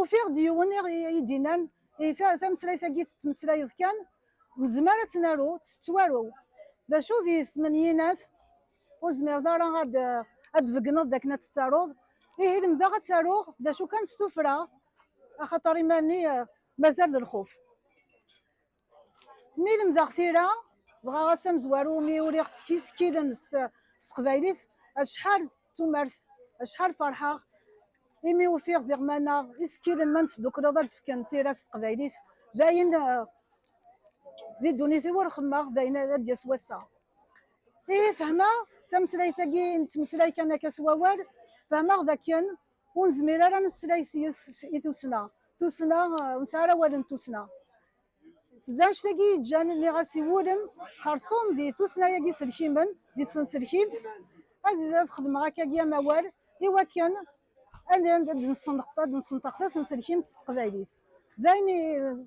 Ufiɣ-d yiwen i yi-d-inan, tameslayt-agi tettmeslayeḍ kan, nezmer ad tt-naru, tettwaru. D acu di tmenyinat ur zmireḍ ara ad d-tbegneḍ d akken ad tt-taruḍ? Ihi lemdeɣ ad tt-aruɣ, d acu kan s tuffra, axaṭer iman-nni mazal d lxuf. Mi lemdeɣ tira, dɣa ass amezwaru mi uriɣ s yisekkilen s teqbaylit, acḥal d tumert, acḥal ferḥeɣ imi ufiɣ ziɣ maneɣ isekkilen ma nesdukleḍ ad d-fken tira s teqbaylit, d ayen eh, di ddunit-iw ur xemmeɣ d ayen ad d-yas wass-a. Ihi fehmeɣ tameslayt-agi nettmeslay kan akka s wawal, fehmeɣ d akken ur nezmir ara nemeslay yes i tussna tussna ur nesɛi ara awal n tussna d anect-agi yeǧǧan nniɣ-as i wulem xersum di tussna-agi selkimen di tsenselkimt ad ad xedmeɣ akkagi amawal i wakken ad d-nessenṭeq tasenselkimt s teqbaylit d ayen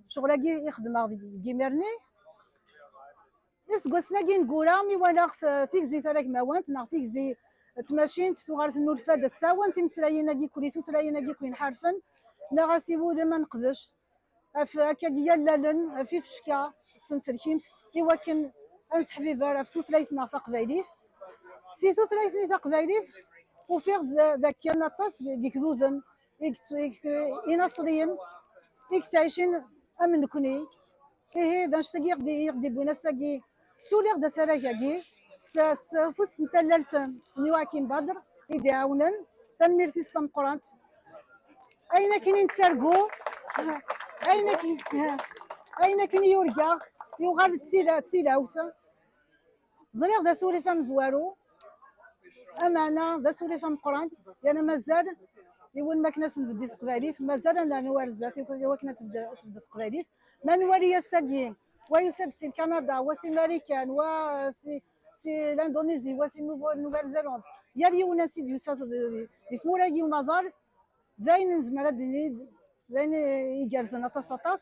ccɣel-agi i xedmeɣ deg yimir-nni Iseggasen-agi ineggura mi walaɣ tigzi taragmawant neɣ tigzi tmacint tuɣal tennulfa-d ad tawen timeslayin-agi kuli tutlayin-agi kuli nḥarfen neɣ asiwulem ad neqdec af akka yallalen af ifecka senselkimt i wakken ad nesseḥbiber af tutlayt-nneɣ taqbaylit. Si tutlayt-nni taqbaylit ufiɣ-d dakken aṭas n yigduden inaṣriyen i yettɛicin am nekkni ihi d anect i ɣ-d-iwwin ass-agi suliɣ-d asarag-agi s ufus n tallalt n Yoakim Badr i d-iɛawnen tanemmirt-is tameqqrant ayen akken i nettargu ayen akken i yurga yuɣal d tilawt ẓriɣ d asurif amezwaru amana d asurif ameqran yana mazal iwulem akken ad s-nbeddi teqbaylit mazal ad nernu ar zdat iwakken ad tebded teqbaylit ma nwali ass-agi wa yusa-d si lkanada wa si marikan wa si si l'indonésie wa si nouvelle zélande yal yiwen ass i d-yusa di tmura-agi umaḍal d ayen nezmer ad d-nini d ayen igerrzen aṭas aṭas